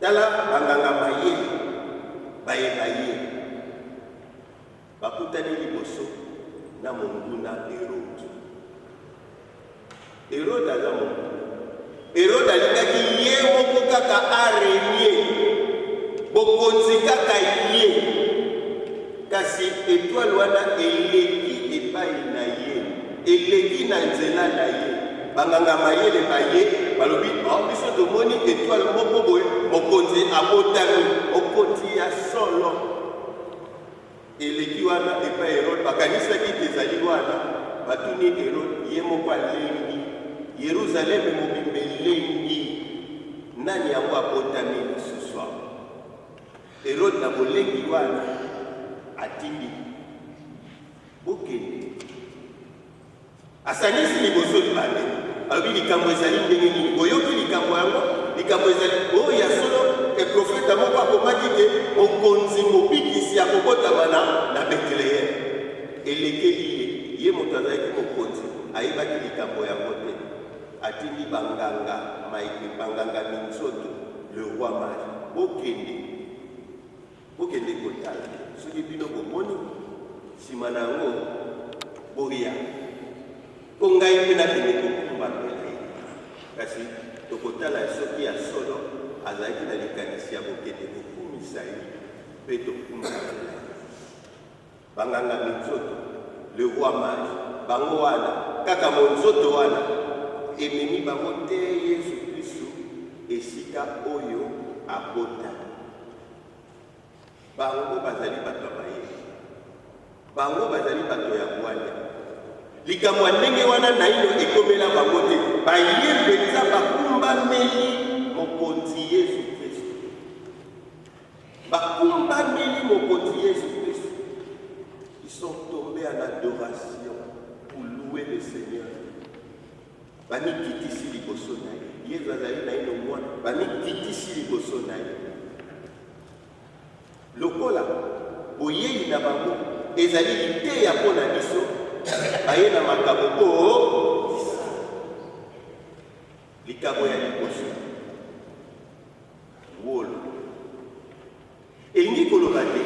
Tala banganga maye baye baye bakutani liboso na monguna Erode. Erode aza monguna. Erode alingaki ye moko kaka arenie bokonzi kaka ye, kasi etwale wana eleki epai na ye. Eleki na nzela na ye. Banganga-mayele baye, balobi, Oh, biso tomoni etoile moko boye, Mokonzi abotami! Mokonzi ya solo! Eleki wana epai ya Erode, bakanisaki ete ezali wana. Batuni Erode, ye moko alengi. Yeruzaleme mobimba elengi. Nani yango abotami lisusu awa? Erode na bolengi wana atindi Bokende. Asangisi liboso libande. Alobi likambo ezali ndenge nini? Boyoki likambo yango? Likambo ezali oyo oh, ya solo e profeta moko akomaki te mokonzi mobikisi ya kobotama na na Betlehem. Elekeli ye, ye moto azalaki mokonzi, ayebaki likambo yango te. Atindi banganga maike, banganga minzoto, le roi mari. Bokende. Bokende kotala soki bino bomoni, nsima na yango boya mpo ngai mpe nakende kokumbana na ye. Kasi tokotala soki ya solo azalaki na likanisi ya kokende kokumisa ye mpe tokumbana na ye. Ba nganga minzoto, le roi mage, bango wana kaka monzoto wana ememi bango tee Yesu Klisto esika oyo abota. Bango bazali bato ya mayele. Bango bazali bato ya bwanya. Likambo ya ndenge wana naino ekomela bango te. Baye mpenza bakumbameli Mokonzi Yesu Klisto. Bakumbameli Mokonzi Yesu Kristu. Ils sont tombes en adoration pour louer le Seigneur. Bamikitisi liboso na ye. Yesu azali naino mwana, bamikitisi liboso na ye. Lokola boyei na bango ezali liteya mpo na biso, baye na makabo oyo likabo ya liboso wolo. Elingi koloba te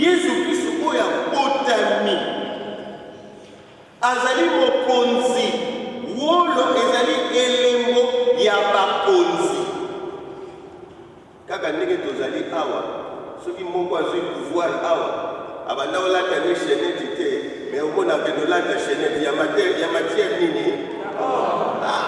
Yesu Kristo oyo abotami azali mokonzi. Wolo ezali elembo ya bakonzi. Kaka ndenge tozali awa, soki moko azwi pouvoir awa, abanda olata ni cheneti te, me omonaka nolata cheneti ya matière nini? Oh, ah.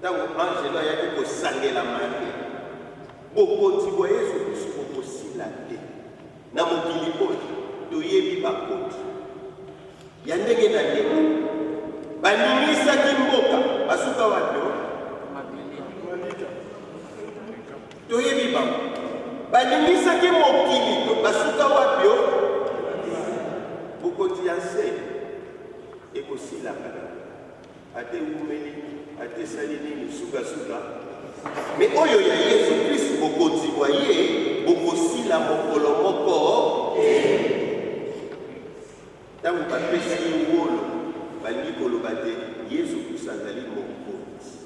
Ntango anzelu ayaki kosangela Maria, bokonzi bwa Yesu Klisto bokosila te na mokili oyo. Toyebi bakonzi ya ndenge na ndenge baningisaki mboka, basuka wapi? Toyebi bango baningisaki mokili, basuka wapi? Bokonzi ya nse ekosilaka. Ata ewumeli, ata esali nini, sukasuka me oyo ya Yesu Kristu bokonzi bwa ye bokosila mokolo moko te. Ntango bapesi ye wolo, balingi koloba te Yesu Kristu azali mokonzi.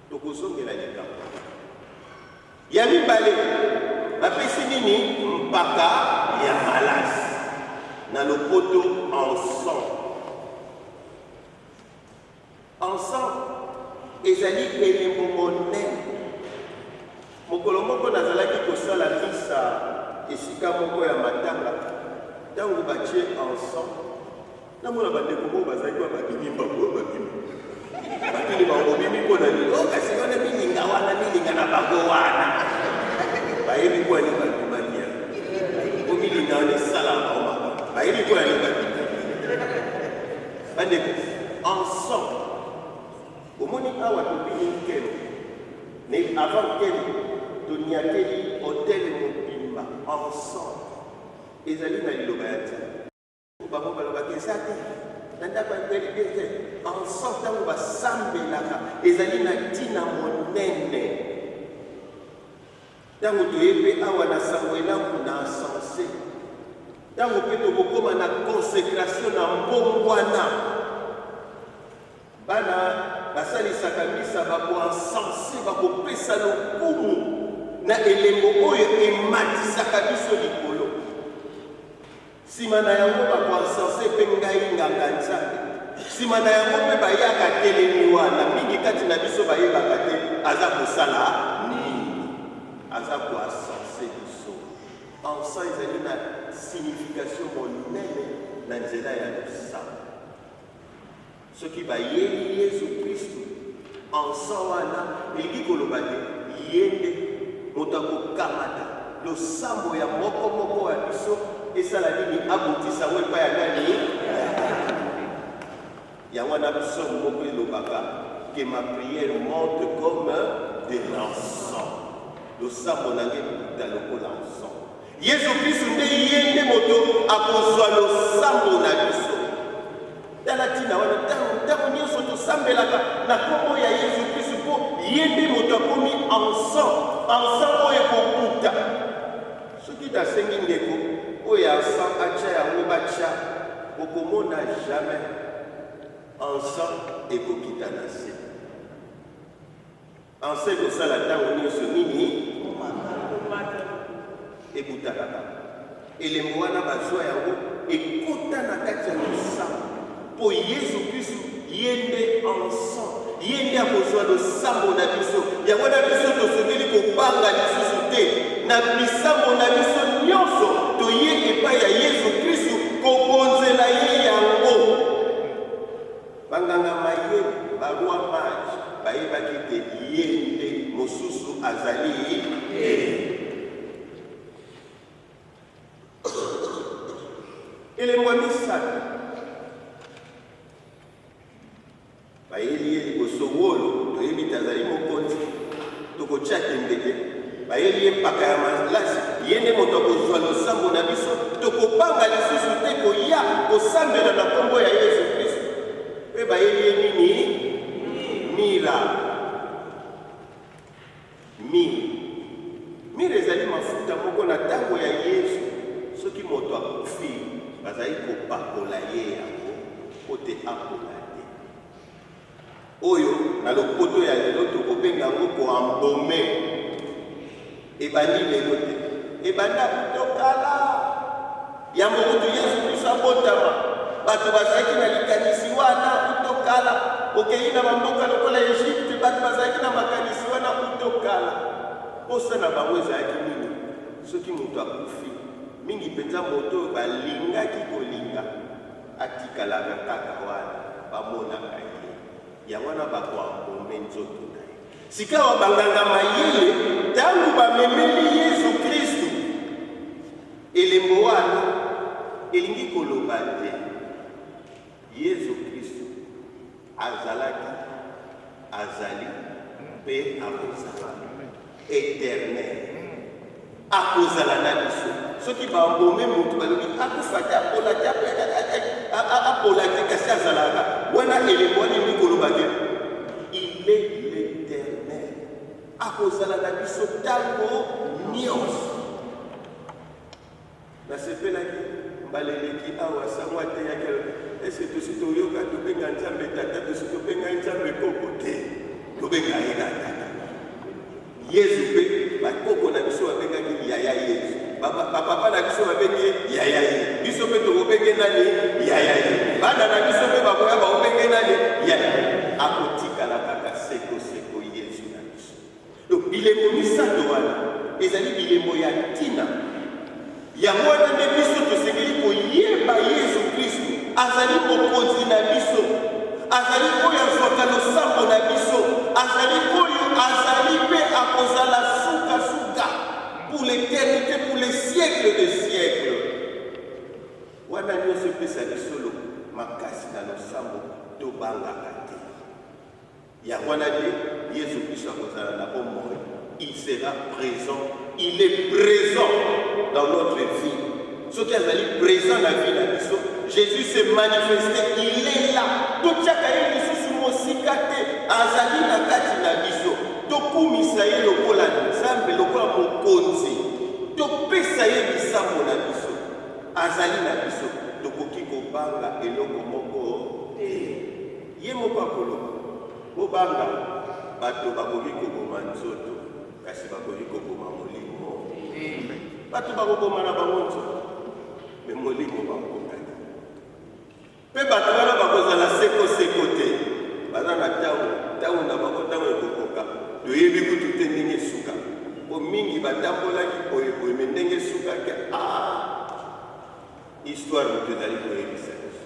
Tokozongela likambo wana. Ya mibale, bapesi nini mpaka ya malasi na lopoto ensemble. Ensemble ezali elembo monene. Mokolo moko nazalaki kosala misa esika moko ya matanga ntango batie ensemble Namona bandeko moko bazalaki wa babimi mbango oyo babimi batuni bango bobimi mpo na nini o kasi wana milinga wana milinga na bango wana bayebi mpo ani babimaki ya mpo milinga wana esala bango maba bayebi mpo ani babimaki bandeko ensemble omoni awa tobimi nkelo na avant nkelo toniateli hotele mobimba ensemble ezali na liloba ya nzambe Mpo bango balobaka eza te na ndako ya elibe te. Banso ntango basambelaka ezali na ntina monene. Ntango toye mpe awa na sango elamu na sense, ntango mpe tokokoma na konsekrasio na mbongwana, bana basalisaka misa bakoansense bakopesa lokumu na elembo oyo ematisaka biso likolo Sima na yango ba ko encenser pe ngai nganga Nzambe. Sima na yango pe bayaka atelemi wana, mingi kati na biso bayebaka te aza kosala nini. Aza ko encenser biso. Encens ezali na signification monene na nzela ya losambo. Soki bayebi Yesu Kristu ensan wana, elingi koloba te Ye nde moto akokamata losambo ya moko moko wa biso, esala nini? Abotisa yango epai ya nani? Ya Tata. Yango wana psaume moko elobaka, Que ma prière monte comme de l'encens, losambo na ngai ekouta lokola encens. Yesu Klisto nde ye nde moto akozwa losambo na biso. Tala ntina wana ntango ntango nyonso tosambelaka na nkombo ya Yesu Klisto mpo ye nde moto akomi ensan ensan oyo ekokuta. Soki nasengi ndeko oyo ya ensan atya yango batya, okomona jamais ensan ekokita na se. Anse ekosala ntango nyonso nini? Ebutakaka. Elembo wana bazua yango ekota na kati ya losambo mpo Yesu Kristu ye nde Anse. Ye nde akozua losambo na biso. Yango wana biso tosengeli kobanga lisusu te na bisambo na biso nyonso. Toye epai ya Yesu Kristu kobonzela Ye yango. Banganga mayele, ba rois mages, bayebaki te ye nde mosusu azali te. Elembo ya misato, bayeli ye liboso wolo, toyebi te azali mokonzi. Tokotia tembe te, bayeli ye mpaka ya malasi, ye nde moto akozua losambo na biso. Tokobanga lisusu te koya kosambela na nkombo ya Yezu Kristu. Mpe bayeli ye nini? Mira. Mire. Mire ezali mafuta moko na tango ya Yezu, soki moto akufi, bazalaki kopakola ye yango mpo te apola te. Oyo na lopoto ya lelo toko benga yango ko embaume. Ebandi lelo te. Ebanda kuto kala. Yambo kutu Yesu Kristo abotama, bato bazalaki na likanisi wana kuto kala. Okeyi na ba mboka lokola Egypte, bato bazalaki na makanisi wana kuto kala. Posa na bango ezalaki nini? Soki moto akufi, mingi penza moto oyo balingaki kolinga. Atikalaka kaka wana bamonaka ye. Yango wana ba ko embaumer nzoto na ye. Sikawa banganga mayele, ntango bamemeli Yesu Kristu elembo wana, elingi koloba te Yesu Kristu. Azalaki, azali, mpe akozala. Eternel. Akozala na biso. Soki babome moto balobi akufa te, apola te, apola te, kasi azalaka wana elembo wana elingi koloba te il est l'éternel akozala na biso ntango nyonso Nasepelaki mbala eleki awa sango ateyaki alobi est ce que tosi toyoka tobenga nzambe tata tosi tobenga ye nzambe koko te tobenga ye kaka tata yezu mpe bakoko na biso babengaki yaya yezu bapapa na biso babenge yaya ye biso mpe tokobenge nani yaya ye bana na biso mpe bakoya bakobenge nani yaya akotikala kaka seko seko Donc, bilembo misato wana ezali bilembo ya ntina. Yango wana nde biso tosengeli koyeba Yesu Klisto azali Mokonzi na biso, azali oyo azwaka losambo na biso, azali oyo azali mpe akozala sukasuka pour l'éternité, pour les siècles des siècles. Wana nyonso epesa biso makasi na losambo, tobangaka te. Yango wana nde Yesu Klisto akozala na bomoi. Il sera present. Il est present dans notre vie. Soki azali present na vie na biso, Jésus se manifeste, il est là. Totiaka ye lisusu mosika te, azali na kati na biso. Tokumisa ye lokola Nzambe, lokola mokonzi. Topesa ye lisango na biso. Azali na biso. Tokoki kobanga eloko moko te. Ye moko akoloba, Bobanga, bato bakoki koboma nzoto, kasi bakoki koboma molimo te. Bato bakobomana bango nzoto, me molimo bakokani. Mpe bato wana bakozala seko-seko te, baza na ntango, ntango na bango, ntango ekokoka, toyebi kutu te ndenge esuka, mpo mingi batambolaki boye boye, me ndenge esukaki, ah! Histoire moto ezali koyebisa biso.